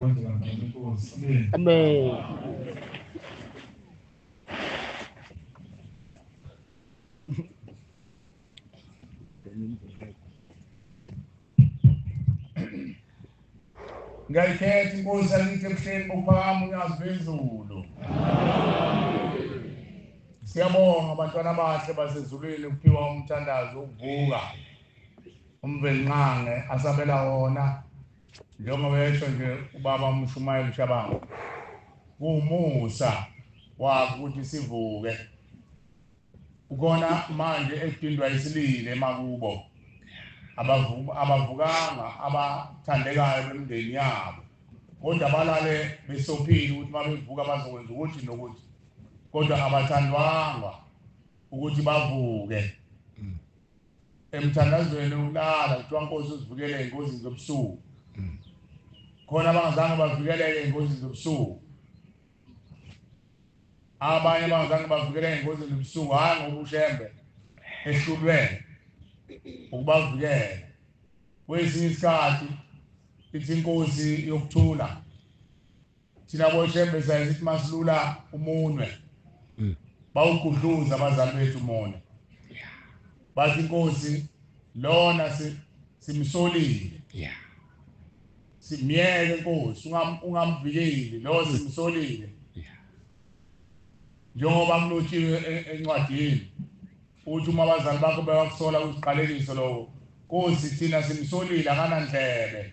Amen. ngayikhetha inkosi yakithi ebuhleni bokuphakama unyazi lwezulu siyabonga abantwana abahle basezulwini kuphiwa umthandazo wokuvuka umvelinqange asabela wona Njengoba esho nje ubaba uMshumayeli Shabangu, kuwumusa wakho ukuthi sivuke. Ukhona manje edindwa isilile emakubo. Abavukanga abathandekayo bemndeni yabo. Kodwa balale besophile ukuthi uma bevuka bazokwenza ukuthi nokuthi. Kodwa abathandwanga ukuthi bavuke. emthandazweni wokulala kuthiwa nkosi uzivikele engozini zobusuku mm. khona abangazange bavikeleke engozini zobusuku abanye abangazange bavikeleke engozini zobusuku hhayi ngoba ushembe ehlulwele ukubavikela kwesinye isikhathi ithi inkosi yokuthula thina boshembe sayenza ithi masilula umunwe mm. bawugudluza abazali bethu umona bathi inkosi lona simsolile yeah simyeke inkosi ungamvikeli lo simsolile njengoba kulotshiwe e-, encwadini uthi uma abazali bakho bewakusola uziqalekiso lowo nkosi thina simsolile akanandlebe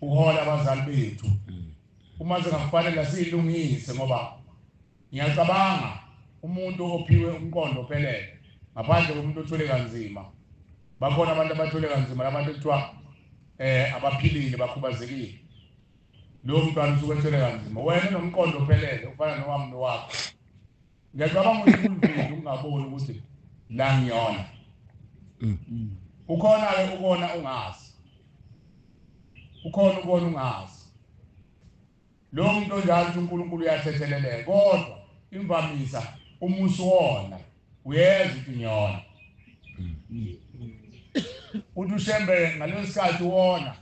uhola abazali bethu mm. uma singakufanele siyilungise ngoba ngiyacabanga umuntu ophiwe umqondo ophelele ngaphandle komuntu othule kanzima bakhona abantu abathule kanzima labantu kuthiwa eh abaphilile bakhubazekile lowo mntwana usuke ethule kanzima wena nomqondo ophelele ufana nowami nowakho ngiyacabanga ukuthi kunzima ukungaboni ukuthi la ngiyona mm. ukhona ke ukona ungazi ukhona ukona ungazi lo muntu onjalo ukuthi uNkulunkulu uyathetheleleka kodwa imvamisa uma usuwona uyeza ukuthi ngiyona mm. uthi ushembe ngaleso sikhathi wona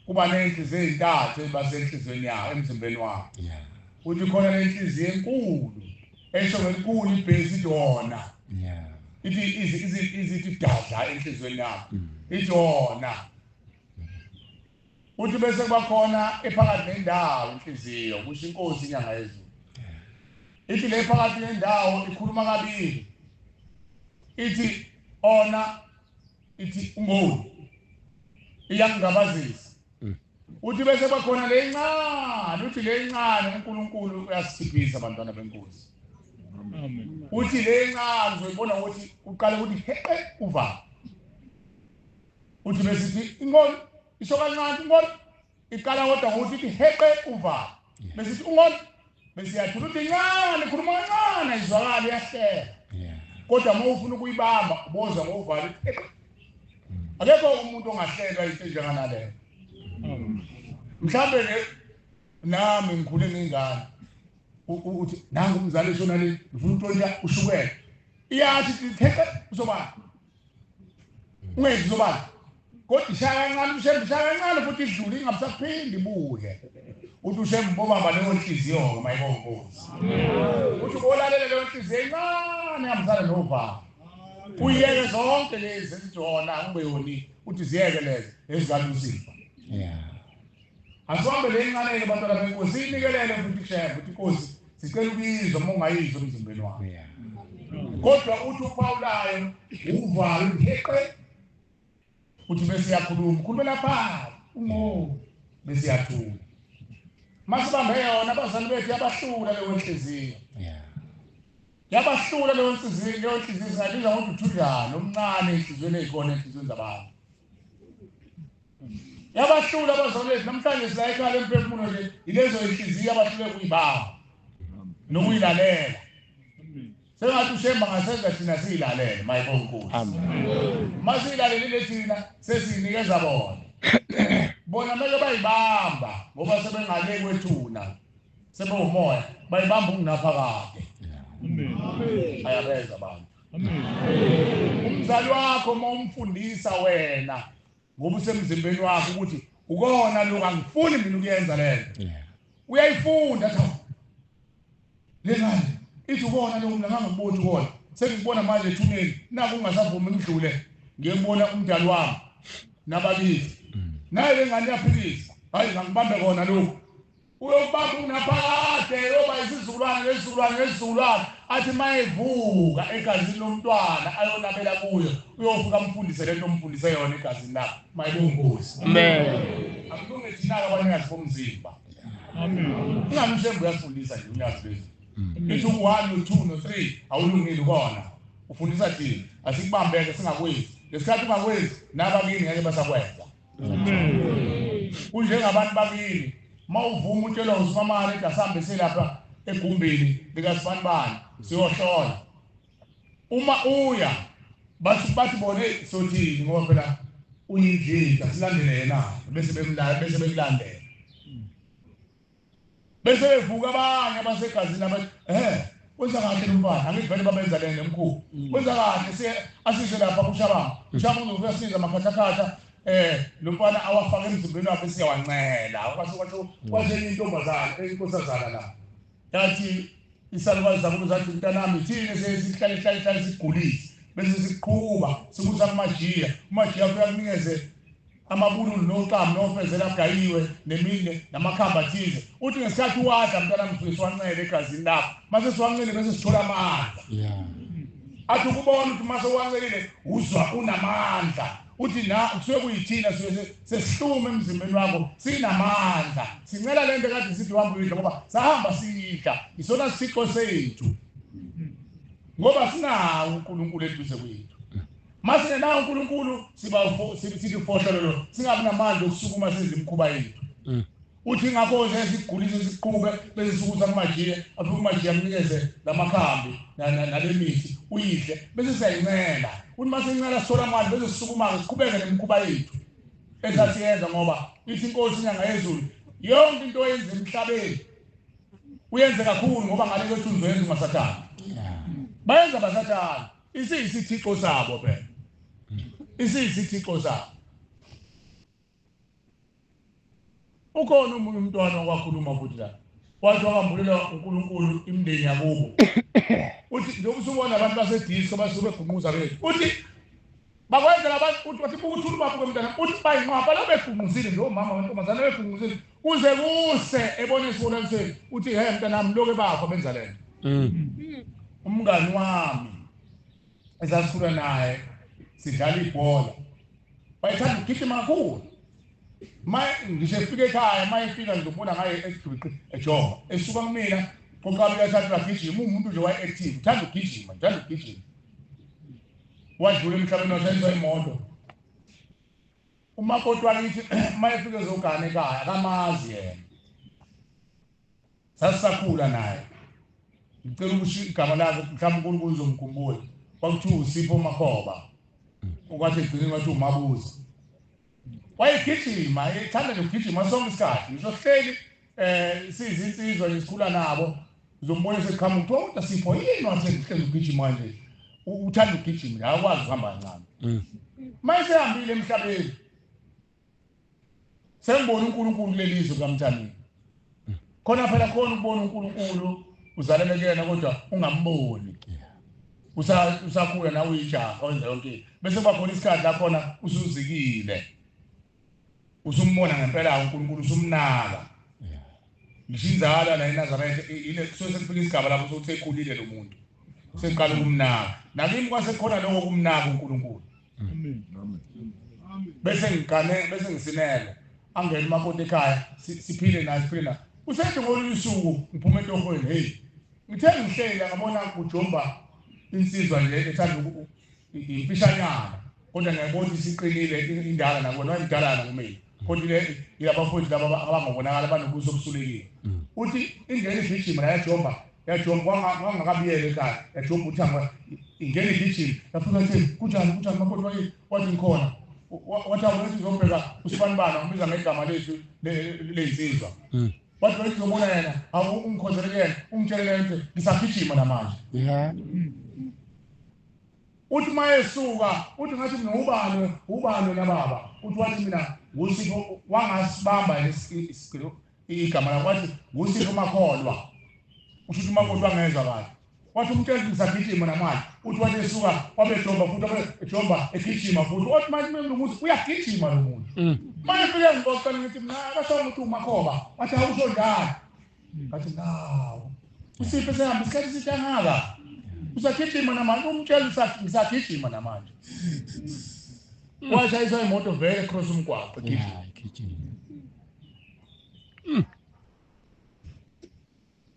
Kuba nenhliziyo ezintathu eziba senhliziyweni yakho emzimbeni wakho. Yeah. Uthi khona lenhliziyo enkulu esho ngelikhulu ibhesi dona. Yeah. Ithi izithi izithi dadla enhliziyweni yakho. Mm. Idona. Uthi bese kuba khona ephakathi nendawo inhliziyo kusho inkosi inyanga yezulu. Ithi le phakathi nendawo ikhuluma kabili. Ithi ona ithi uMoon iyangabazisa mm. uthi bese bakhona lencane uthi lencane uNkulunkulu uyasiphiphisa abantwana benkosi uthi lencane uzoyibona ukuthi uqale ukuthi heqe uva uthi besithi inkolo isho kancane inkolo Iqala kodwa ngokuthi ithi heqe uvalo. Bese ithi ungona bese iyathula ukuthi incane ikhuluma kancane izwakala iyahlela. Kodwa uma ufuna ukuyibamba ubozwa ngovalo ithi akekho umuntu ongahlelwa into enjenganaleyo. Hmm. Mhlambe ke nami ngikhule ngingane uthi nangu umzali shona le ngifuna untolika ushukela iyathi itheqe uzoba ungezi lobala kodwa ishaya kancane ushembe ishaya kancane futhi idlule ingabusaphindi ibuye uthi ushembe bobamba leyo nhliziyo-ke mayibonkosi uthi ubolalele leyo nhliziyo encane ihambisane novalo uyeke zonke lezi ezijona ube yoni uthi ziyeke lezi ezikanusipha Asihambe le inqaneni bantwana benkosi siyinikelele futhi kushaye futhi inkosi sicela ukuyizwa uma ungayizwa emzimbeni wakho kodwa uthi uphawulayo uvalo uheqe uthi bese yakhuluma khulumela phansi ungo bese yathula masibambe yona abazali bethu yabahlula leyo nhliziyo yabahlula leyo nhliziyo leyo nhliziyo singabiza ngokuthi uthudlana omncane enhliziyweni eyikona enhliziyweni zabantu yabahlula abazalwane bethu namhlanje silayikhale emphefumulo nje ilezo inhliziyo abahlule kuyibawa nokuyilalela sengathi ushemba ngasenza thina siyilalele mayibo nkulu uma siyilalelile thina sesiyinikeza bona bona mele bayibamba ngoba sebengale kwethuna sebewumoya bayibamba ungunaphakade ayabeza abantu umzali wakho uma umfundisa wena ngoba usemzimbeni wakho ukuthi ukona lokho angifuni mina ukuyenza lento uyayifunda cha lengane ithi ukona lokho mina ngangiboni ukona sengibona manje ethuneni naku ungasavumi ngidlule ngiyembona umdali wami nabakithi mm. naye lengane yaphilisa hayi ngangibambe kona lokho Uyokuba khona phakade eyoba isizukulwane ngezizukulwane ngezizukulwane, athi uma evuka egazini lomntwana ayonabela kuyo, uyofika amfundise le nto omfundise yona egazini lakho. Mayibonge inkosi. Akulunge thina-ke abanikazi bomzimba. Ungamthembi uyafundisa nje unyazi lwezulu. Ithi u-one no-two no-three awulungile ukona ufundisa thina asikubambeke singakwenzi ngesikhathi ungakwenzi nabakini ngeke basakwenza kunjengabantu bakini uma uvuma utshelwa usimamane ukuthi asihambise lapha egumbini likasibanibani siyohlola uma uya bathi bathi bone sothini ngoba phela uyinjinja silandele yena bese bemlaya bese bekulandela bese bevuka abanye abasegazini abathi ehe wenza kahle lomfana angithi vele babenza lena emkhulu mm. wenza kahle siye asise lapha kushabanga mm. ushaba uzokuyasiza makhathakhatha eh lomfana awafaka emzimbeni wakhe siyawancela kwasho kwasho mm. kwasho intombazana enkosazana la yathi isalukazi zakubo zathi mntanami thina sesihlale hlale hlale sigulise bese siqhuba sikusa kumajiya umajiya kuyakunikeze amabululu noxamu nofezela agayiwe nemine namakhamba athize uthi ngesikhathi uwadla mntanami sifike siwancele egazini lakho mase siwancele bese sithola amandla athi ukubona ukuthi mase uwancelile uzwa unamandla uthi na kusuke kuyithina suke sesihlume emzimbeni wakho sinamandla sincela lento kade sithi uhamba uyidla ngoba sahamba siyidla isona sithixo sethu ngoba sinawo uNkulunkulu eduze kwethu Masine nawo uNkulunkulu siba sithi ufohlololo singabi namandla okusukuma senze imikhuba yethu. Mm. Uthi ngakho nje sigulise siqhube bese sikuza kumajile afike umajile amnikeze lamakhambi nalemithi uyidle bese siyayincela. Uthi mase incela sola manje bese sisukuma siqhubeke nemikhuba yethu. Esasiyenza ngoba ithi inkosi inyanga yezulu yonke into oyenza emhlabeni uyenze kakhulu ngoba ngale kwethu uzwenza umasathana. Bayenza basathana. Isiyisithixo sabo phela. Isiyisithixo sabo. Ukhona umuntu umntwana okwakhuluma futhi la. Wathi wakambulela uNkulunkulu imndeni yakubo. Uthi njengoba usubona abantu baseDisko basuke begumuza bethu. Uthi bakwenzela abantu ukuthi bathi buka uthula ubaba kwemntana uthi bayinqwaba balabegungquzile nje omama wentombazane begungquzile kuze kuse ebona esibonanisweni uthi he mntanami loke bakho benza lento mm. umngani wami esasikhula naye sidlala ibhola wayethanda ukugijima kakhulu ma ngisho efika ekhaya ma efika ngizobona ngaye esigwiqi ejoba esuka kumina qoqabika esathi agijima uwumuntu nje waye-active uthanda ukugijima uthanda ukugijima wadlula emhlabeni washayiswa imoto umakoti wakithi uma efike ezogana ekhaya akamazi yena sasisakhula naye ngicela ukusho igama lakhe mhlawumbe unkulunkulu uzomkhumbula kwakuthiwa usipho makhoba okwathi egcineni kwathiwa umabuza wayegijima ethanda nje ukugijima sonke isikhathi ngisho sihleli um siyizinsizwa nje sikhula nabo uzombona sekuqhamuka kuthiwa kodwa sipho yini wasehlezi ugijima nje uthanda ukugijima nje akwazi ukuhamba kancane mm. uma esehambile emhlabeni sengibona unkulunkulu kuleli zwe kukamthandeni khona phela khona ukubona uNkulunkulu uzalele kuyena kodwa ungamboni usakhula nawe uyijaha wenza yonke into bese kuba khona isikhathi lakhona usuzikile usumbona ngempela uNkulunkulu usumnaka ngisho inzala la eNazaretha ile kusuke sekufika isigaba lapho sokuthi ekhulile lo muntu seqala ukumnaka nakimi kwasekhona lokho kumnaka uNkulunkulu bese ngigane bese ngisinele angene umakoti ekhaya siphile naye siphile naye usethi ngolunye usuku ngiphuma entohweni heyi ngithe ngihleli angabona kujomba insizwa nje ethanda imfishanyana kodwa ngiyabona ukuthi siqinile indala nakona wayimdalana kumina kodwa le yilabafowethu laba abangobonakala banobuso obusulekile mm. uthi ingene igijima la yajomba yajob wangakabiyele kade yajob uthangwa ingene igijima yafika thi kunjani kunjani makoti waye wathi ngikhona wathi awuthi ngizobheka usibanibana ngibiza ngegama lethu leyinsizwa hmm. wathi waye ngizobona yena awu ungikhonzele kuyena ungitshelele nto ngisagijima namanje uthi uma esuka uthi ngathi mina ubani ubani nababa uthi wathi mina ngusipho wangasibamba isigilo igama lakho wathi ngusiphi umakholwa usho ukuthi umakoti wangezwa kahle wathi umtshela ukuthi ngisagijima namanje uthi wathi esuka wabejomba futhi ejomba egijima futhi othi manje umuntu ukuthi uyagijima lo muntu mm. manje fike ngibocela ngithi mna akasho ukuthi umakhoba wathi awusho njalo ngathi nawo usiphi esehamba isikhathi eside angaka usagijima namanje umtshela ngisagijima namanje mm. washayiswa imoto vele cross umgwaqo gijima Hmm.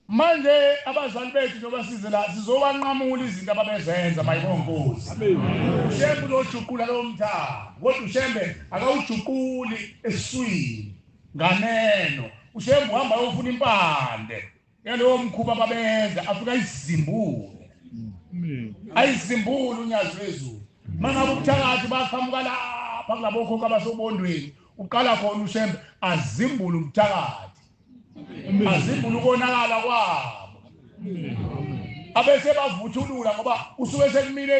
manje abazali bethu nobasize la sizowanqamula izinto ababezenza mayikonkosi ushembe uzojuqula lowo mthaka kodwa ushembe akawujuquli eswini nganeno ushembe uhamba yofuna impande yalowo mkhuba babeyenza afika izimbule mm. ayizimbule unyazi lwezulu mangabe ubuthakathi baqhamuka lapha kulabokhokho abasobondweni uqala khona ushembe azimbule ubuthakathi azimbule ukonakala kwabo abese bavuthulula ngoba usuke sekumile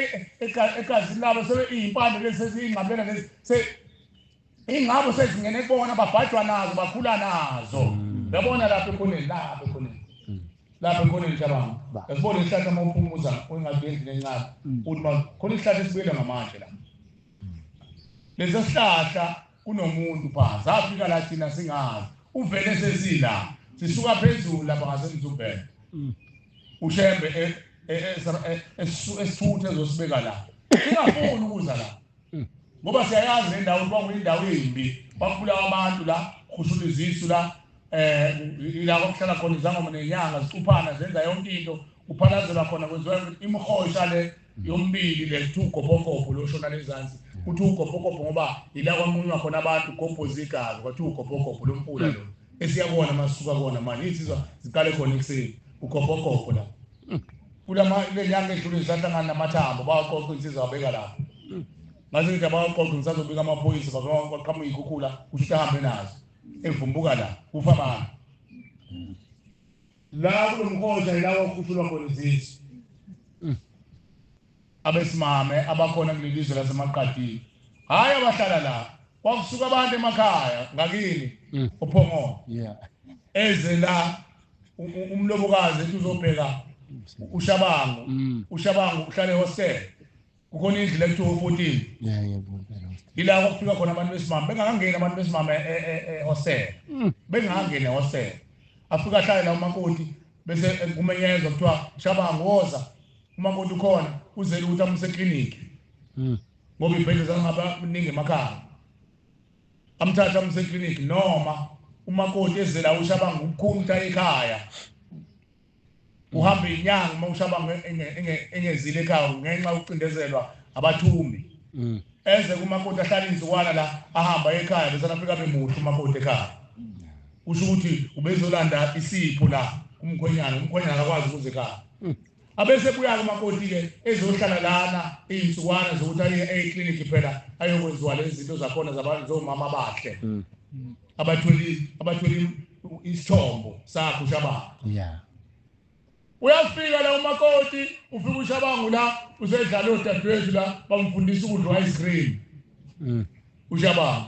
egazini labo sebe iyimpande lezi seziyingqamela lezi Ingabo sezingene kubona babhajwa nazo bakhula nazo. Mm. Yabona lapho khona lapho khona. Mm. Lapho khona njabanga. Yabona isihlahla uma uphumuza ungathi endlini encane. Mm. Uthi ma khona isihlahla esibuyela ngamanje la. Lesa sihlahla kunomuntu pha zafika la thina singazi. Uvele sesila. Sisuka phezulu lapha ngasemzubhela. Ushembe esithuthe ezosibeka la. Singafuni ukuza la. Hmm. Ngoba siyayazi le ndawo kuba kuyindawo embi, bakubulawa abantu la, kushula izisu la, eh ila kokuhlala khona izangoma nenyanga zicuphana zenza yonke into kuphalazelwa khona kwenziwa imihosha le yombili le kuthiwa ugobhogobho loshona lezansi kuthiwa ugobhogobho ngoba ila kwamunywa khona abantu gobho zigazi kwathiwa ugobhogobho lomfula lo esiyakona masuka kona manje insizwa ziqale khona ekuseni ugobhogobho la kulama le nyanga edlule sahlangana namathambo bawaqoqa insizwa abeka lapho ngase ngithi abawaqoqa ngisazobika amaphoyisa baqhamuka iy'khukhula kusho ukuthi ahambe nazo evumbuka la kufa bani la kulo mkhosha yilawa okhushulwa khona izizwe Abesimame abakhona kuleli zwe laseMaqadini, hhayi abahlala la, kwakusuka abantu emakhaya ngakini mm. oPhongolo yeah. eze la umlobokazi ethi uzobheka ushabango mm. ushabango uhlale hostel kukhona indlu le kuthiwa u-fourteen ila kwakufika khona abantu besimame bengakangeni abantu besimame ehostel e, e, e, mm. bengakangeni ehostel afika ahlale la umakoti bese kumenyezwa kuthiwa shabango woza umakoti ukhona uzele ukuthi amuse eclinic hmm. ngoba ibhedle zangaba kuningi emakhaya amthatha amuse eclinic noma umakoti ezele awushabanga ukukhunta ekhaya uhamba inyanga uma ushabanga engezile ekhaya ngenxa yokucindezelwa abathumbi hmm. eze kumakoti ahlala inzukwana la ahamba ekhaya bese anafika bemuhle umakoti ekhaya kusho ukuthi ubezolanda isipho la umkhwenyana umkhwenyana akakwazi ukuze ekhaya hmm. abese buya-ke umakoti-ke ezohlala lana iy'nsukwana zokuthi aye ekliniki phela ayokwenziwa lezi zinto zakhona zomama bakhe mm. abatholi abatholi isithombo sakhe ushabanga yeah uyafika la umakoti ufika ushabangu la usedlala odadewethu la bamfundisa ukudla ice cream mm. ushabangu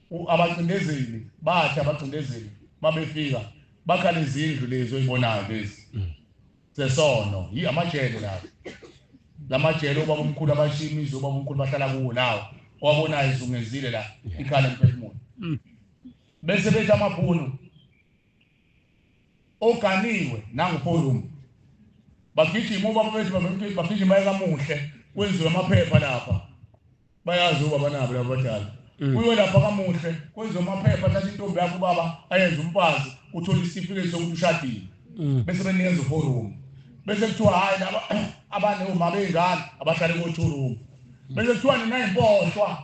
abacindezeli bathi abacindezeli mabefika bakhala izindlu lezi oyibonayo lezi mm. zesono yi amajele lawo lamajele ubaba omkhulu abashiya imizi ubaba omkhulu bahlala kuwo lawo owabonayo izungezile la ikhala emphefumulo mm. bese bethi amabhunu oganiwe nanguPorum bagijima ubaba bethu bavemthetho bagijima ekamuhle kwenziwe amaphepha lapha bayazi ubaba nabo laba badala mm. kuyo lapha kamuhle kwenziwe amaphepha thatha intombi yakho ubaba ayenze umfazi uthole isitifiketi sokuthi ushadile mm. bese benikeza uPorum bese kuthiwa hhayi laba abane uma beyingane abahlale ko-two room bese kuthiwa nina yimposhwa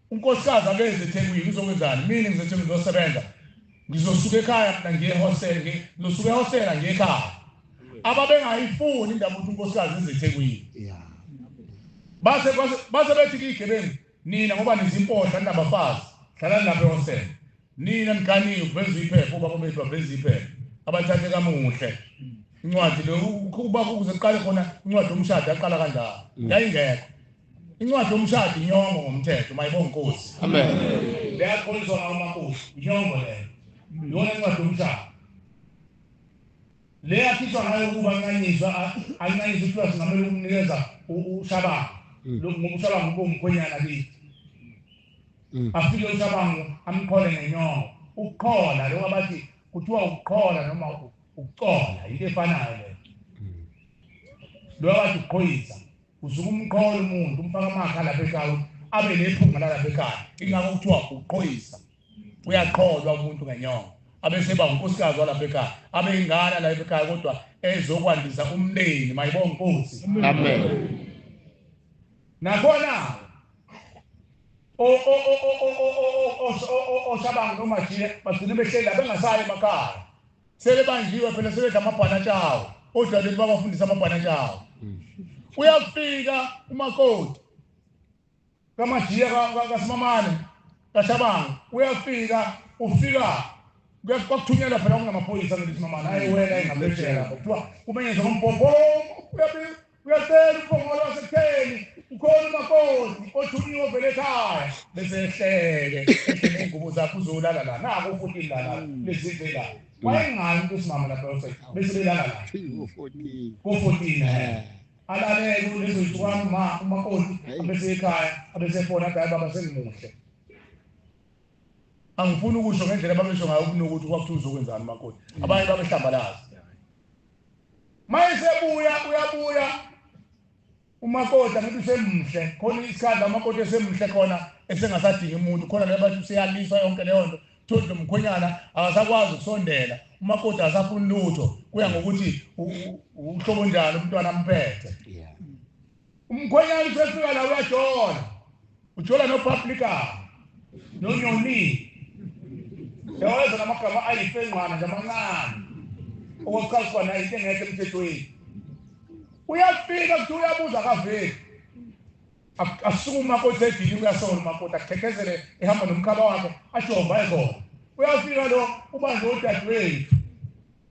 Unkosikazi akeze eThekwini uzokwenzani? Mina ngizeThekwini ngizosebenza. Ngizosuka ekhaya mina ngiye ehostela, ngizosuka ehostela ngiye ekhaya. Ababengayifuni indaba ukuthi unkosikazi eze eThekwini. Yeah. Base base bethi kigebengu nina ngoba nizimpodla ninabafazi. Hlalani lapha ehostela. Nina niganiwe kuveza iphepha ubaba bethu baveza iphepha abathathe kamuhle incwadi le uba kuze kuqale khona incwadi yomshado yaqala kanjalo mm. yayingekho incwadi yomshado inyongo ngomthetho mayibonga inkosi amen leyakholiswa ngawo amakhosi inyongo leyo yona incwadi yomshado le yakhishwa ngayo ukuba anqanyiswa anqanyiswa iplasi ngamele ukumnikeza ushabanga mm. ngoba ushabanga ubomkhwenyana kithi Mm. afike ucabango amqhole ngenyongo ukuqhola lokho abathi kuthiwa ukuqhola noma ukucola yinto efanayo leyo mm. lokho abathi ukuqhoyisa usuke umqhola umuntu umfaka amakha lapha ekhaya abe nephunga lalapha ekhaya ingakho kuthiwa ukuqhoyisa uyaqholwa umuntu ngenyongo abeseba unkosikazi walapha ekhaya abe ingana lapha ekhaya kodwa ezokwandisa umndeni mayibonga inkosi amen nakhona oshabango nomajile bagcine behleli la bengasayi emakhaya sebebanjiwe phela sebedla amabhanatsha awo odlaleli babafundisa amabhanatsha awo uyafika umakoti kamajiya kasimamane kashabango uyafika ufika kwakuthunyelwa phela kunamaphoyisa ngelithi mamana ayi wena engaphesheya lapho kuthiwa kumenyenza ngombhobho Uyacela uphongolo wasekutheni ukhona umakoti othunyiwe ovele ekhaya bese ehleke ehleke ingubo zakho uzolala la nako futhi lala lezidle la wayengani kusimama lapho bese belala la ko 14 alalele ulezo zitwami ma umakoti abese ekhaya abese fona gayi baba sengimuhle angifuni ukusho ngendlela babesho ngayo kunokuthi kwakuthiwa uzokwenzani umakoti abanye babehlambalaza mayesebuya uyabuya umakoti angithi usemhle khona isikhathi amakoti esemhle khona esengasadingi umuntu khona le bathi useyaliswa yonke leyo nto tholi lo mkhwenyana akasakwazi ukusondela umakoti akasafuni lutho kuya ngokuthi uhlobo njani umntwana amphethe Umkhwenyana usefika la uyajola. Ujola no publica. No nyoni. Yaweza namagama ayifengqwana nje amancane. Okokuqala khona into engekho emthethweni. Uyafika kuthi uyabuza kaveli. Asuka umakoti edini uyasola umakoti akhekezele ehamba nomkhaba wakhe ajomba ekhona. Uyafika lo ubanjwe udadewethu.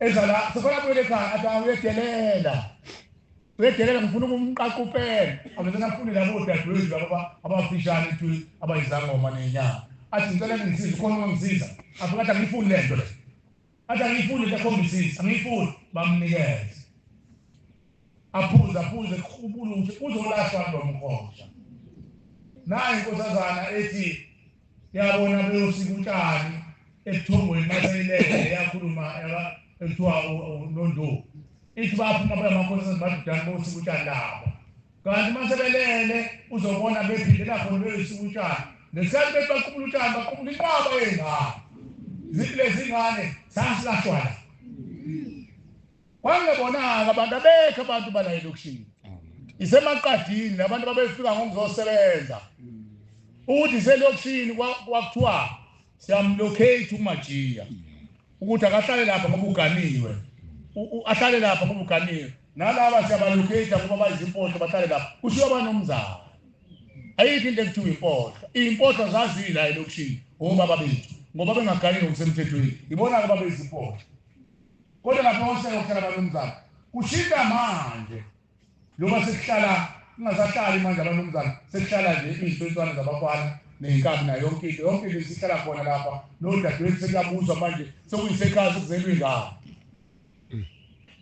eza la sefana buyele ekhaya athi awuyedelela uyedelela ngifuna ukumqaqa upele avele ngafuni labo dadewethu labo abafishane tu abayizangoma nenyanga athi ngicela ngisize khona ongangisiza avuka athi angiyifuni le nto le athi angiyifuni le khombisiza angiyifuni bamnikeze aphuza aphuze kuqubula ukuthi uzolahlwa lo mkhosha naye inkosazana ethi yabona beyosika utshani ebuthongweni maseyilele yakhuluma ekuthiwa unondovu ithi baphuma beyamakhosazana badudane bosika utshani labo kanti uma sebelele uzobona bephindela khona beyosika utshani ngesikhathi bethi baqubula utshani baqubula inqaba yengane zithi lezi ngane sasilahlwala Kwangebona-ke abantu abekho abantu bala elokishini. Isemaqadini labantu babefika ngokuzosebenza. Ukuthi selokishini kwakuthiwa siyamlocate uMajiya. Ukuthi akahlale lapha ngoba uganiwe. Ahlale lapha ngoba uganiwe. Nalaba siyabalocate ngoba bayizimpohlo bahlale lapha. Kushiwa banomzana. Ayikho into ekuthiwa impohlo. Impohlo zazila elokishini obaba bethu ngoba bengaganile ngokusemthethweni. Ibona-ke babezimpohlo. Kodwa lapho ohlelo kuhlala abanumzana kushintsha manje njengoba sekuhlala kungasahlali manje abanumzana sekuhlala nje iy'nswenswane zabafana ney'nkabi nayo yonke into yonke into isihlala khona lapha nodadewethu sekuyabuzwa manje sekuyisekhaya sekuzelwa ingane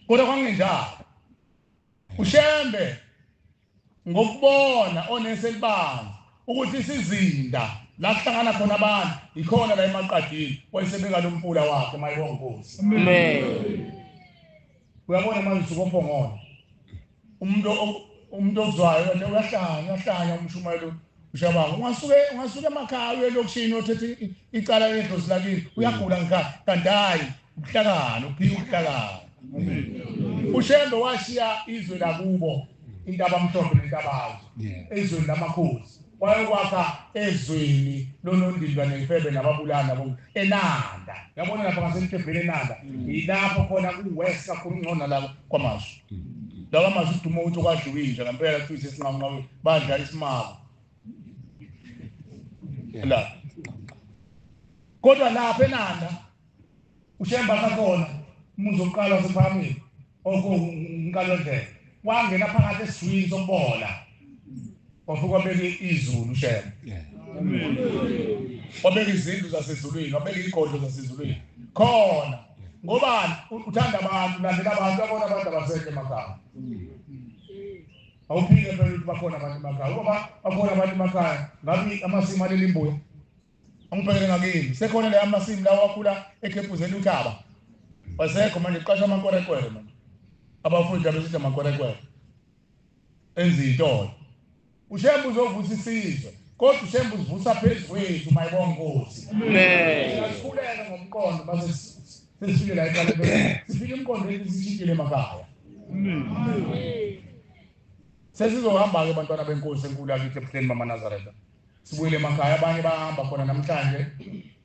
kodwa kwangenjalo ushembe ngokubona onesi elibanzi ukuthi isizinda la kuhlangana khona abantu yikhona la emaqadini wayesebeka lo mpula wakhe mayibonga nkosi uyabona manje usuke ophongona umuntu umuntu ozwayo uyahlanya uyahlanya umshumayelo Ushaba ungasuke ungasuke emakhaya uye lokishini othethe icala edlozi lakini uyagula ngikhaya kanti hayi ubuhlakani uphika ubuhlakani. Ushembe washiya izwe lakubo intaba mhlophe nentabazo ezweni lamakhosi wayokwakha ezweni lonondindwa nefebe nababulana bo enanda yabona lapha ngasentebheni enanda yilapho khona kuwest kakhulu ngcono lapho kwamasho lawa mazwi uduma ukuthi kwadliwa inja ngempela kuthiwa isesinqamunqawe badla isimako la kodwa lapha enanda ushemba sakhona umuzi wokuqala wasephamile okunkalondlela wangena phakathi esizwini sokubola Wavuka wabeka izulu shem. Wabeka izindlu zasezulwini, wabeka igodlo zasezulwini. Khona ngobani uthanda abantu, landela abantu, abona abantu abasekho emakhaya. Awuphike phela ukuthi bakhona abantu emakhaya. Ngoba bakhona abantu emakhaya, ngabe amasimu aleli mbuya. Angibhekele ngakini. Sekhona la amasimu lawa akhula ekhepuzela uthaba. Wasekho manje qasha amankorekwere manje. Abafundi abesithi amankorekwere. enza intolo ushembe uzovusa isizwe kodwa ushembe uzivusa phezu kwethu mayibonga nkosi asikhulele ngomqondo base sesifike la eqale sifike imqondo yethu sishintshile emakhaya sesizohamba-ke bantwana benkosi enkulu yakithi ebuhleni bamanazaretha sibuyele emakhaya abanye bahamba khona namhlanje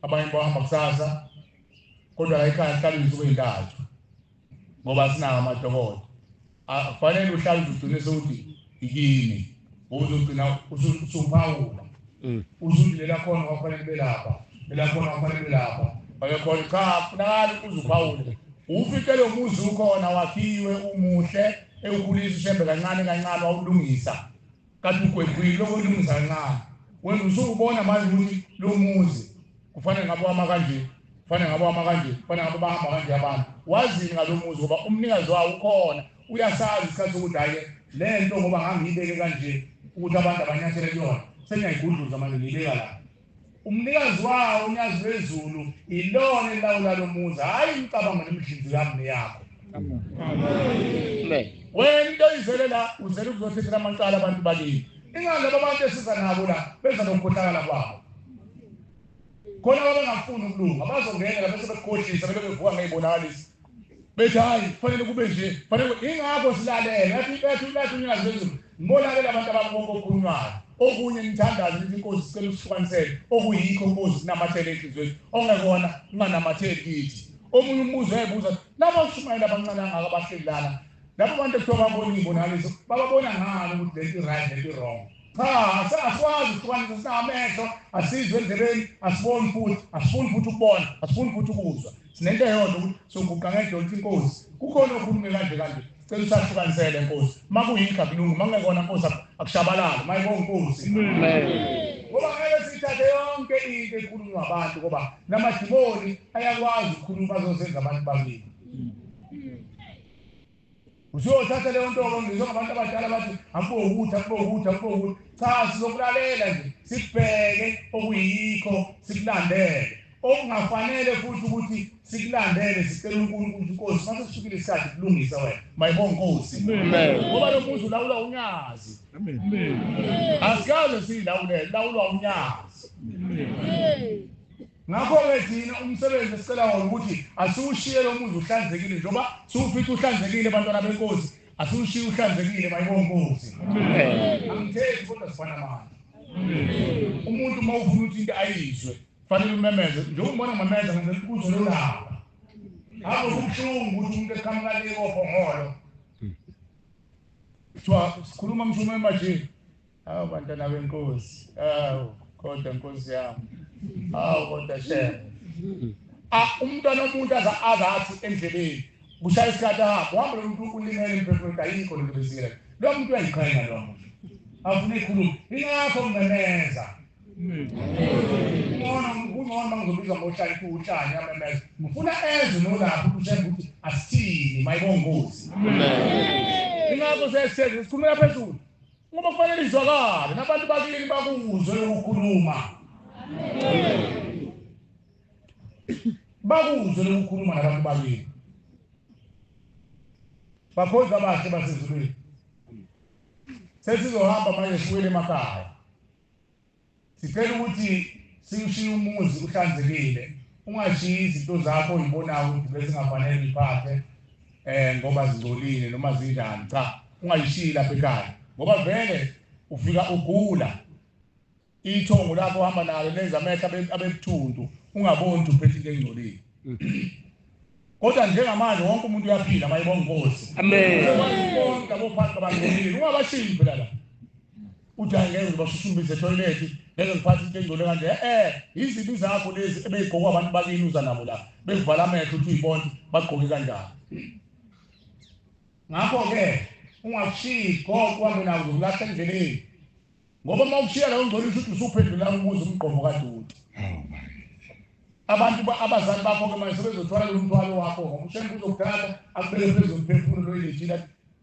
abanye bahamba kusasa kodwa la ekhaya kuhlala izinsuku ezintathu ngoba sinawo amadokodo kufanele uhlale uziqinise ukuthi ikini uzogcina usuphawula mm. usuthi lela khona kwakufanele belapha lela khona kwakufanele belapha bakekhona cha funakali uzuphawule ufike lo muzi ukhona wakhiwe umuhle ewukhulisa ushembe kancane kancane wawulungisa Kanti ugwegwile lokho uMnumzane Ncane. Wena usukubona manje ukuthi lo muzi kufanele ngabe wama kanje, kufanele ngabe wama kanje, kufanele ngabe bahamba kanje abantu. Wazini ngalo muzi ngoba umnikazi wawo ukhona, uyasazi isikhathi sokuthi hhayi le nto ngoba ngangiyibeke kanje ukuthi abantu abanyathele kuyona, sengiyayigudluza manje ngiyibeka la. Umnikazi wawo uNyazi lwezulu ilona elilawula lo muzi hhayi imicabango nemidlinzi yami neyakho wena into oyizele la uzele ukuzothethela amacala abantu balini ingani laba bantu esiza nabo la benza nokukhohlakala kwabo khona babengafuni ukulunga bazongenela bese bekukhohlisa bebe bevuka ngey'bonakalisi bethi hayi kufanele kube nje fanele ingakho silalele athi bethi ulathu nyazi bezulu ngibolalela abantu ababonke okukhulunywayo okunye nithandaze ukuthi inkosi sicela usihlukanisele okuyikho inkosi sinamathele enhliziyweni ongekona unganamatheli kithi omunye umbuzo ebuza laba ushumayela abancane angaka bahleli lana laba bantu ekuthiwa babona iy'bonakaliso bababona ngani ukuthi lento i-right lento i-wrong cha asikwazi ukuhlukanisa sinamehlo asizwe endlebeni asiboni futhi asifuni futhi ukubona asifuni futhi ukuzwa sinento eyodwa ukuthi soguqa ngedonsi inkosi kukhona okhulume kanje kanje cela usahlukanisele nkosi uma kuyinto akulungi uma kungekona nkosi akushabalali uma yibonga inkosi ngoba ngeke sithathe yonke into ekhulunywa abantu ngoba namadimoni ayakwazi ukukhuluma azosenza abantu bakini usuyothatha leyo nto ngizwe ngabantu abadala bathi akube ukuthi akube ukuthi akube ukuthi cha sizokulalela nje sikubheke okuyikho sikulandele okungafanele futhi ukuthi sikulandele sicela unkulunkulu inkosi mase kusukile isikhathi kulungisa wena mayibonga nkosi ngoba lo muzi ulawula unyazi asikaze siyilawulele lawulwa unyazi Ngakho-ke thina umsebenzi esicela wona ukuthi asiwushiye lo muzi uhlanzekile njengoba siwufica uhlanzekile bantwana benkosi asiwushiye uhlanzekile bayibo nkosi angithethi kodwa sifana manje umuntu uma ufuna ukuthi into ayizwe fanele umemeze njengoba ubona ngimemeza ngenzela ukuzo lolaba hamba kubuhlungu ukuthi umuntu eqhamukaneko ohongolo kuthiwa sikhuluma mshumayeli manje awu bantwana benkosi awu kodwa nkosi yami awu kodwa shem ah, umntwana omuntu aza azathi endleleni kushaya isikhathi ahamba uhamba lo muntu ulimele emphefumulo ayikho lento bezile lo muntu uyayiqhenya lo muntu afuna ikhulumo ingakho ngingeneza ngcono kungcono uma ngizobizwa ngohlala kuwutshani amemeza ngifuna ezwe nolapho ukuthemba ukuthi asithini mayibongozi ingakho sesitheni sikhulumela phezulu Ngoba kufanele izwakale nabantu bakini bakuzwe lokukhuluma. Bakuzwe lokukhuluma nabantu bakini. Bakhonza abahle basezulwini. Sesizohamba manje siwele emakhaya. Sicela ukuthi siwushiye umuzi uhlanzekile ungashiyi izinto zakho oyibonayo ukuthi bezingafanele uyiphathe um ngoba zingcolile noma zinjani cha ungayishiyi lapha ekhaya ngoba vele ufika ugula ithongo lakho uhamba nalo lenza amehlo abebuthuntu ungaboni ukuthi uphethe into engcolile kodwa njengamanje wonke umuntu uyaphila mayebonga inkosi amen bonke abophathi babangcolile ungabashiyi phela la uthi hayi ngeke ngibashushumbise ethoyilethi ngeke ngiphathe into engcole kanje e-e yizibi zakho lezi ebeyigqokwa abantu bakini uza nabo la bevala amehlo uthi uyibona bagqoke kanjani ngakho-ke ungashiyi konke uhambe nawo zokulahla endleleni ngoba uma ukushiya lawo ngcolisa ukuthi usuphendula umuzi umgqomo kaduti abantu abazali bakho-ke manje sebezothwala lo mthwalo wakho ngoba ushembe uzokuthatha akubeke phezu komphefumulo loyilethile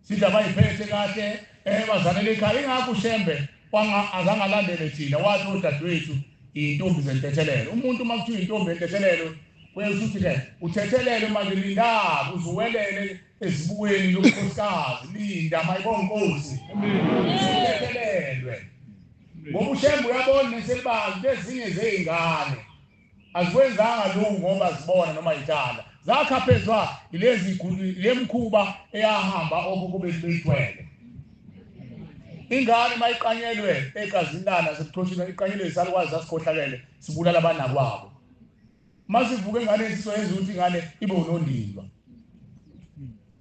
Sidla bayiphethe kahle eh bazalele ekhaya ingakho uShembe wanga azangalandele thina wathi udadewethu intombi zentethelelo umuntu uma kuthiwa intombi entethelelo uyesuthi ke uthethelele manje linda uzuwelele ezibukweni lokukhosikazi linda mayibonkosi uthethelelwe ngoba uShembe uyabona neselibazi bezinye zeingane azikwenzanga lokhu ngoba zibona noma yithanda zakhaphezwa ilezi le mkhuba eyahamba okhokho bethu beyithwele ingane mayiqanyelwe egazini lana sekuxoshile iqanyelwe isalukwazi sasikhohlakele sibulala abanakwabo masivuke ingane yesiso yenza ukuthi ingane ibe unondindwa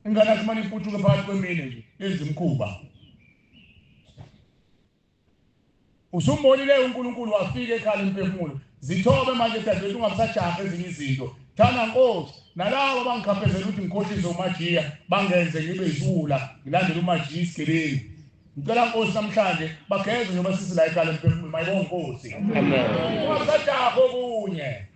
ingane akumane iputshuke phakathi kwemine nje yenza imkhuba Usumbonile uNkulunkulu wafika ekhala imphefumulo. Zithobe manje dadewethu ungabisajaha ezinye izinto. Thanda Nkosi, nalabo abangikhaphezela ukuthi ngikhohlise uMajiya bangenze ngibe isiwula ngilandele uMajiya isigebengu. Ngicela Nkosi namhlanje bageze njengoba sisi la ekhala emphefumulo. Mayibonge Nkosi. Amen. Ungabisajaha okunye.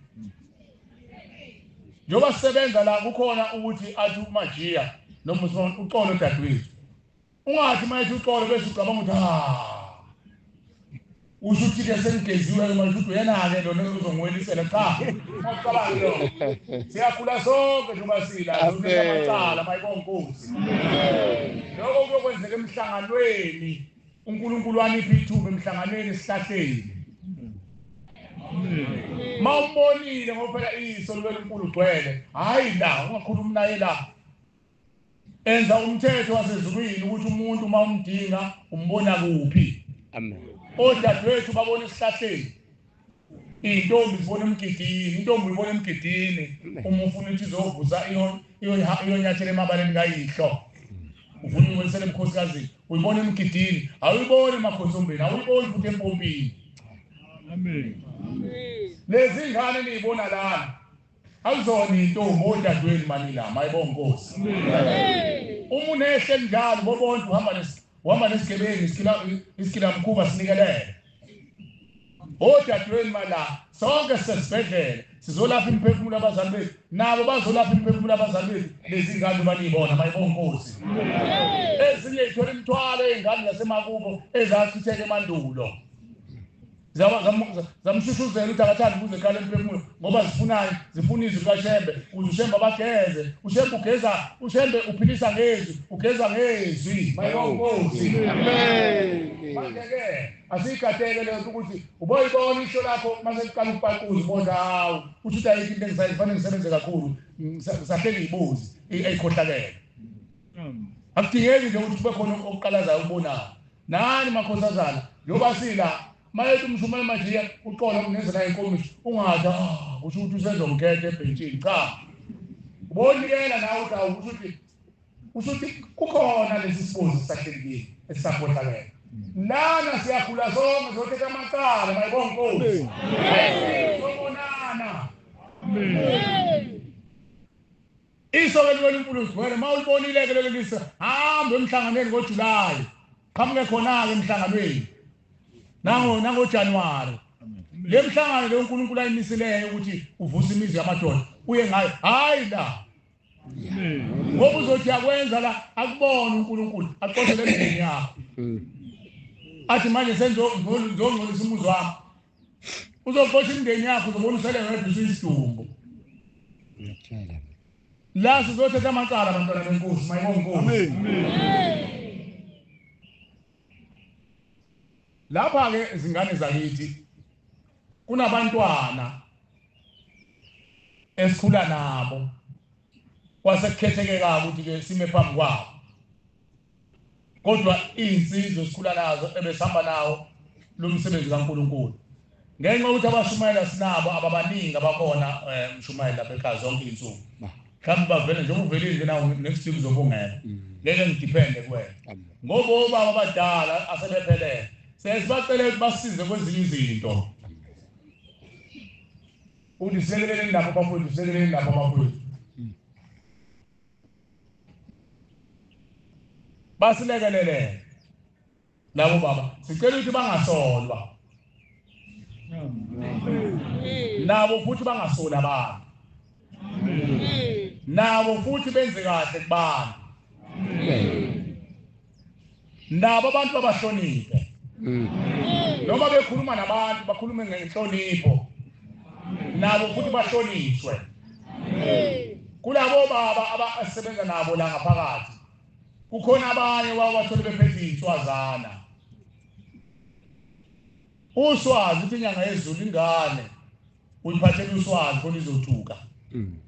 Njengoba sisebenza la kukhona ukuthi athi uMajiya noma uxolo dadewethu. ungathi uma ethi uxolo bese ucabanga ukuthi ha usho ukuthi-ke sengigeziwe-ke manje ukuthi uyena-ke lona uzongiwelisela cha ucabangi lo siyakhula sonke njengoba silaamacala mayibonkosi loko kuyokwenzeka emhlanganweni unkulunkulu wanipha ithuba emhlanganweni esihlahleni ma umbonile ngoba phela iso liwenkulu gcwele hhayi la ungakhulumi naye la enza umthetho wasezulwini ukuthi umuntu uma umdinga umbona kuphi amen odadewethu babona esihlahleni iy'ntombi zibona emgidini intombi uyibona emgidini uma ufuna ukuthi izovusa iyonyathela emabaleni kayihlo ufuna ukwelisela emkhosikazini uyibona emgidini awuyiboni emakhosombeni awuyiboni futhi empompini lezi ngane niyibona lana Ayizona intombi odadweni manila mayibonga Nkosi. Uma unehle njalo bobonke uhamba nesi uhamba nesigebengu isikila isikila mkhuba sinikelele. Odadweni mala sonke sesibhedlela sizolapha imphefumulo abazali bethu nabo bazolapha imphefumulo abazali bethu lezi ngane banibona mayibonga Nkosi. Ezinye ithola imthwalo ezingane zasemakubo ezachitheke emandulo. zamshushuzela ukuthi akathandi ukuze eqala emphefumulo ngoba zifunani zifuna izwi lukashembe kuze ushembe abageze ushembe ugeza ushembe uphilisa ngezwi ugeza ngezwi mayonkosi manje-ke asiyikateke leyo nto ukuthi uboyibona isho lakho mase liqala ukupaquza ubona hawu kusho ukuthi ayikho into engisayi kufanele ngisebenze kakhulu ngisahle ngiyibuzi eyikhohlakele akudingeki nje ukuthi kube khona okuqalazayo okubonayo nani makhosazana njengoba sila mayethi umshumayeli manje uqola kungenza naye inkomiso ungathi ah, kusho ukuthi usezongikhetha ebhentshini cha ubonikela nawe uthi awu kusho ukuthi kusho ukuthi kukhona lesi sibuzi sahlelekile esisakhohlakela lana siyakhula sonke zothetha amacala mayibonga inkosi sobonana Iso ke liwela uMpuluzi wena uma ulibonile ke lelo lisa hamba emhlanganweni ngoJulayi. Qhamuke khona-ke emhlanganweni. Nango nangoJanuwari. Le mhlangano le uNkulunkulu ayimisileyo ukuthi uvusa imizi yamadoda uye ngayo hayi la. Ngoba uzothi yakwenza la akubona uNkulunkulu aqothele emzini yakho. Athi manje sengizongcolisa umuzi wakho. uzoxosha imndeni yakho uzobona usele ngathi usisidumbu la sizothetha amacala abantwana benkosi mayibonkosi lapha-ke izingane zakithi kunabantwana esikhula nabo kwasekukhetheke kabi ukuthi-ke sime phambi kwabo kodwa izinsizwa esikhula nazo ebesihamba nawo lo msebenzi kaNkulunkulu ngenxa ukuthi abashumayela sinabo ababaningi abakhona eh, mshumayela bekhaya zonke insuku mhlawumbe bavele nje uvelile nje nawo next week uzobungela mm. ngeke ngidepende kuwena ngoba obaba abadala asebephelele sesibacele ukuthi basize kwezinye izinto uthi silekeleleni lapho bafowethu silekeleleni lapho bafowethu basilekelele labo baba sicela ukuthi bangasolwa nabo futhi bangasoli abantu nabo futhi benze kahle kubantu nabo abantu babahloniphe mm. noma bekhuluma nabantu bakhulume ngenhlonipho nabo futhi bahlonishwe kulabo baba abasebenza nabo la ngaphakathi kukhona abanye wawathole bephethe inswazana uswazi ukuthi inyanga yezulu ingane uliphathela uswazi khona izothuka mm.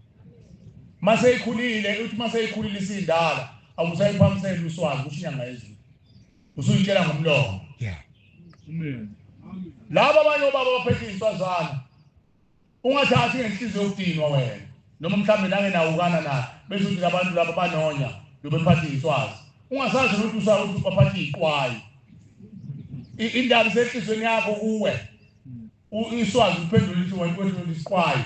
mase ikhulile uthi mase ikhulile isindala awusayiphamisela uswazi kusho inyanga yezulu usuyitshela ngomlomo yeah amen laba abanye obaba baphethe iswazana ungathathi ngenhliziyo yokudinwa wena noma mhlawumbe nangenawukana na bese uthi labantu laba banonya lobephathe iswazi ungasazi ukuthi usa ukuthi baphathe iqwayi indaba isehlizweni yakho kuwe U-Iswazi uphendule lithi wena kwethuleni isiqwayi.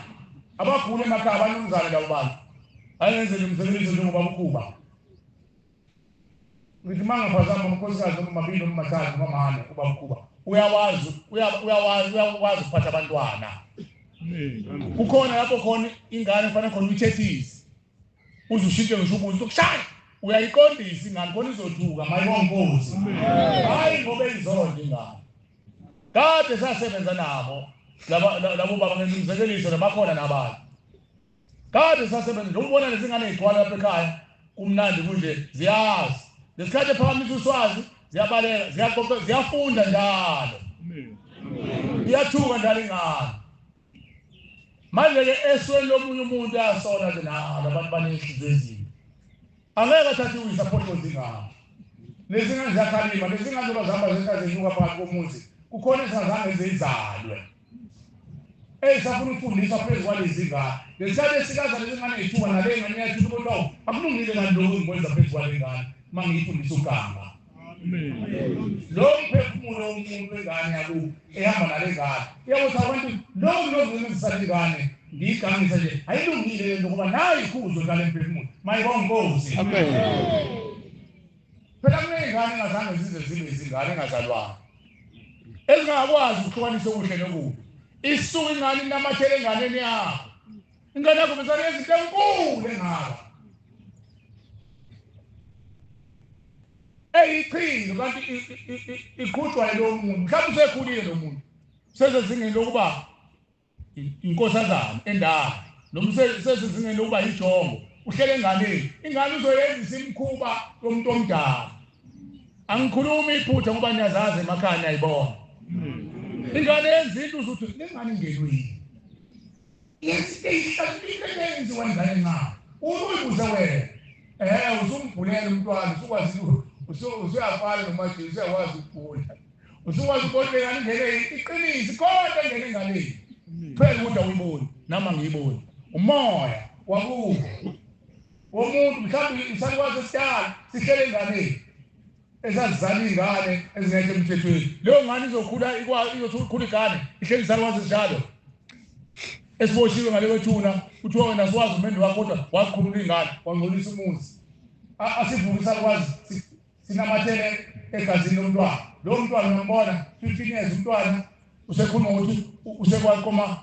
Abagula emakhaya abanumzane labo bantu. Ayenzele umsebenzi njengoba ukhuba. Ngithi mangaphazama umkhosikazi omabili omathathu mamane kuba ukhuba. Uyawazi uyawazi uyakwazi ukuphatha abantwana. Kukhona lapho khona ingane kufanele khona uyithethise. uze ushintshe ngisho ubuso sokushaya uyayiqondisa ingane khona izothuka mayibonkosi hayi ngoba izonde ingane kade sasebenza nabo labo baba ngizimzekeliso nabakhona nabanye kade sasebenza njengoba ubona lezingane zigcwala lapha ekhaya kumnandi kunje ziyazi lesikhathi ephakamisa uswazi ziyabaleka ziyaqoqa ziyafunda njalo iyathuka njalo ingane manje-ke esweni lomunye umuntu ayasola ke nalo abantu banenhliziyo ezimbi angeke athathe iwisa aphotozi ngabo nezingane ziyakhalima nezingane zoba zihamba zenta zenyuka phakathi komuzi kukhona ezingazange zizalwe eyisafuna ukufundiswa phezu kwalezi ngane ngesikhathi esikaza lezi ngane yithuba nale ngane yathi umuntu akulungile kanti lokhu ngikwenza phezu kwale ngane uma ngiyifundisa uganga lo mphefumulo womuntu wengane yakubo ehamba nale ngane uyakuthi abantu lowo ngilozimenzisana ingane ndiyiganise nje ayilungile le nto ngoba nayo ikhuzo ngale mphefumulo mayibongozi phela kuney'ngane engazange zize zibe izingane engazalwanga ezingakwazi ukuhlukanisa okuhle nokubi isuke ingane inamathele enganeni yakho Ingane yakho besane yezinto enkulu engaka. Eyiqhinga kanti iqhutshwa lo muntu. Mhlawumbe usekhulile lo muntu. Sezezingeni lokuba inkosazana endala. Noma sezezingeni lokuba yijongo. Uhlele enganeni. Ingane uzoyenzisa imkhuba yomuntu omdala. Angikhulumi iphutha ngoba niyazazi emakhaya niyayibona. Hmm. Ingane yenza into uzothi lengane ingenwe yini? Ithi eyihlakile lenzi wenzani na? Uma uyibuze wena, eh usumbhulele umntwana usukwazi usuyafana nomajini usuyakwazi ukugula. Usukwazi ukubona ingane ingene iqinisi kodwa ingene enganeni. Phela ukuthi awuyiboni nami angiyiboni. Umoya wakubo womuntu mhlawumbe isakwazi esidala sihlele enganeni. esazizala iy'ngane ezingekho emthethweni leyo ngane izokhula izothi ukhula igane ihleli izala kwazi njalo esiboshiwe ngale kwethuna kuthiwa wena siwazi umendo wakho kodwa wazikhulula iy'ngane wangcolisa umuzi asivuke isakwazi sinamathele egazini lomntwana lowo mntwana uyombona fifteen years umntwana usekhuluma ukuthi usekwaqoma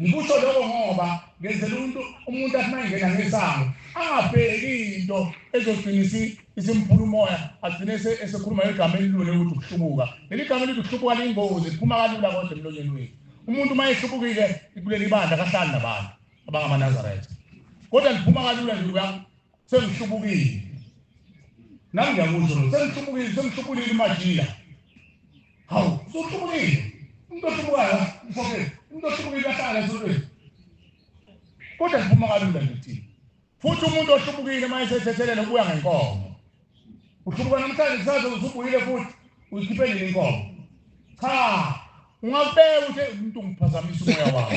Ngikusho lokho ngoba ngenzela umuntu umuntu athi mayengena ngesango angabheki into ezogcinisa isimphula umoya agcine esekhuluma igama elilule ukuthi ukuhlubuka leli gama elithi ukuhlubuka liyingozi liphuma kalula kodwa emlonyeni wethu umuntu uma ehlubukile kuleli bandla kahlali nabantu abangamaNazaretha kodwa liphuma kalula nje sengihlubukile nami ngiyakusho lo sengihlubukile sengihlubulile imajila hawu usuhlubukile umuntu ohlubukayo mfokeni umuntu ohlubukiwe ahlala esontweni kodwa ngiphuma kalula ngithini futhi umuntu ohlubukile uma esethethelela ubuya ngenkomo uhlubuka namhlanje kusaze usubuyile futhi uyikhiphe nini inkomo cha ungakubeka ukuthi umuntu ungiphazamisa umoya wakho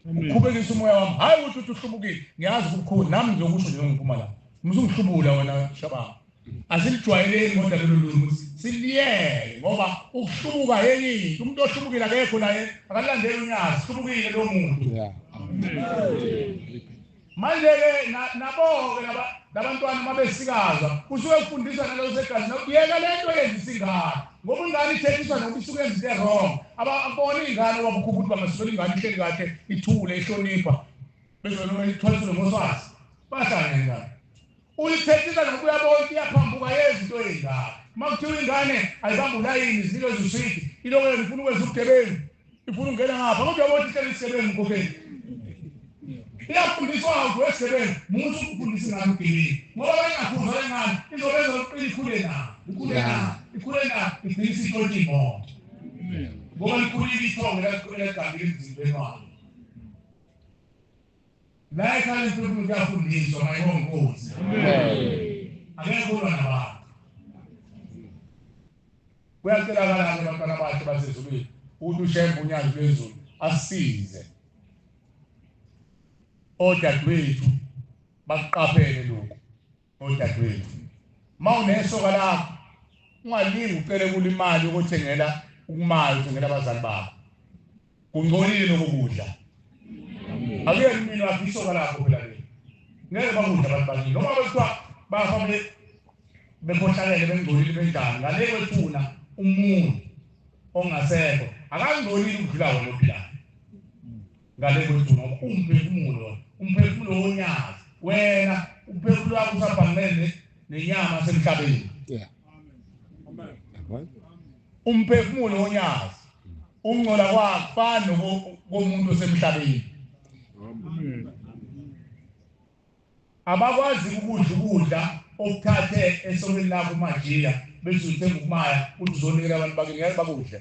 uqhubekisa umoya wami hhayi ukuthi uthi uhlubukile ngiyazi kubukhulu nami ngiyokusho nje ngiphuma la mzungihlubula wena shabanga asilijwayeleki kodwa lelo limi ukuthi siliyele ngoba ukuhlubuka yenye into umuntu ohlubukile akekho naye akalandeli unyazi hlubukile lo muntu Manje-ke naboke nabantwana uma besikaza kusuke kufundiswa naloko segazini yeka le nto yenzisa ingane ngoba ingane ithethiswa nokuba isuke yenza into erong ababona iy'ngane wabukhupha ukuthi bangasukela ingane ihleli kahle ithule ihlonipha bezonoma ithwaliswe ngoswazi bahlangengane Uyithethisa noma uyabona ukuthi iyaphambuka yenza into eyingaka. Uma kuthiwa ingane ayibambe ulayini zinikeza uswidi, iloko yona ifuna ukwenza ubugebengu, ifuna ukungena ngapha kodwa uyabona ukuthi icela isigebengu mkhokheli. Iyafundiswa awuthi wesigebengu musa ukufundisa ingane ubugebengu ngoba bengakhuzwa le ngane izobenza ukuqina ikhule na ikhule na ikhule na igcina isitshontsha imoto ngoba likhulile ithongo elagambile emzimbeni wayo. La ekhaya uNkulunkulu kuyafundiswa mayibonga inkosi. Akekho ulwa nabantu. Kuyacelakala ke abantwana bakhe basezulwini ukuthi ushembe unyazi lwezulu asize. Odadewethu bakuqaphele lokhu. Odadewethu, uma unesoka lakho, ungalingi ucele kula imali yokuthengela ukumali, uthengela abazali bakho. Kungcolile lokho kudla. Akuyena umini wakho isoka lakho phela leli. Ngeke bakudla abantu bakithi. Noma bekuthiwa bafa bekhohlakele bengcolile benjani, ngale kwethuna umuntu ongasekho akangcolile ukudlula wena ophilayo. ngale kwethu ngoba umphefumulo umphefumulo wonyazi wena umphefumulo wakho usabhangene nenyama semhlabeni umphefumulo wonyazi ungcola kwakufana komuntu osemhlabeni Abakwazi ukudla ukudla okuthathe esokeni lakho umajiya bese uthenga ukumaya uthi uzonikela abantu bakini ngeke bakudle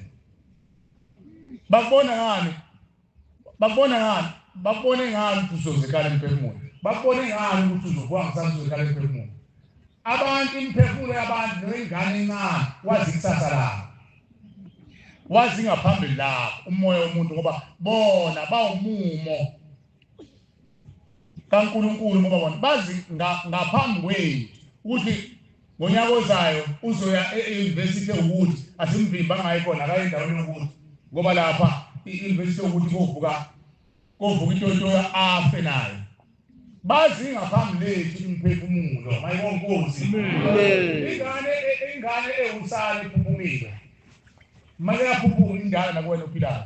bakubona ngani bakubona ngani bakubone ngani ukuthi uzozekala emphefumulo bakubone ngani ukuthi uzokuwa ngisana uzozekala emphefumulo abantu imphefumulo yabantu nengane encane wazi ikusasa labo wazi ngaphambili lapho umoya womuntu ngoba bona bawumumo kaNkulunkulu ngoba bona bazi ngaphambi kwethu ukuthi ngonyaka ozayo uzoya e-university ukuthi asimvimba ngayo khona akaye endaweni yokuthi ngoba lapha i-university yokuthi kovuka kovuka intotoya afe nayo bazi ngaphambi lethu imiphefumulo mayibonkosi ingane ingane ewusane iphuphumile maye yaphuphuma indala nakuwena ophilayo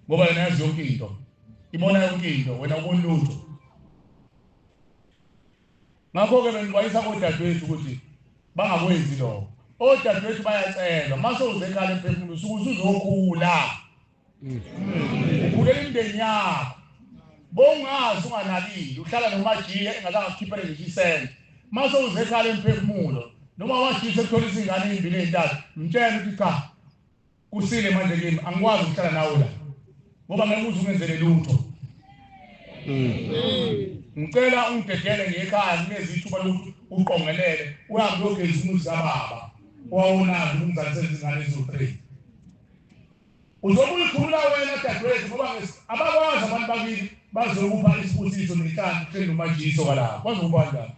ngoba yona yazi yonke into ibona yonke into wena ubona lutho ngakho-ke bengikwayisa kodadewethu ukuthi bangakwenzi lokho odadewethu bayacelwa uma sewuze ekhaya emphefumulo usuke usuzokhula ukhulela imindeni yakho bongazi unganakile uhlala nomajiya engazange akukhiphele ngisho isente uma sewuze ekhaya emphefumulo noma washisa ekuthola izingane ezimbili ezintathu mtshele ukuthi cha Kusile manje kimi angikwazi ukuhlala nawe la ngoba ngeke uze ungenzele lutho ngicela ungidedele ngekhaya nginezi ithuba lokuthi uqongelele uhambe uyogeza umuzi kababa owawunazi umzali sezingane eziwu-three uzokuyikhulula wena dadewethu ngoba abakwazi abantu bakini bazokupha isibusiso nenhlanhla kuhleli nomajiso kwalapho bazokubanjani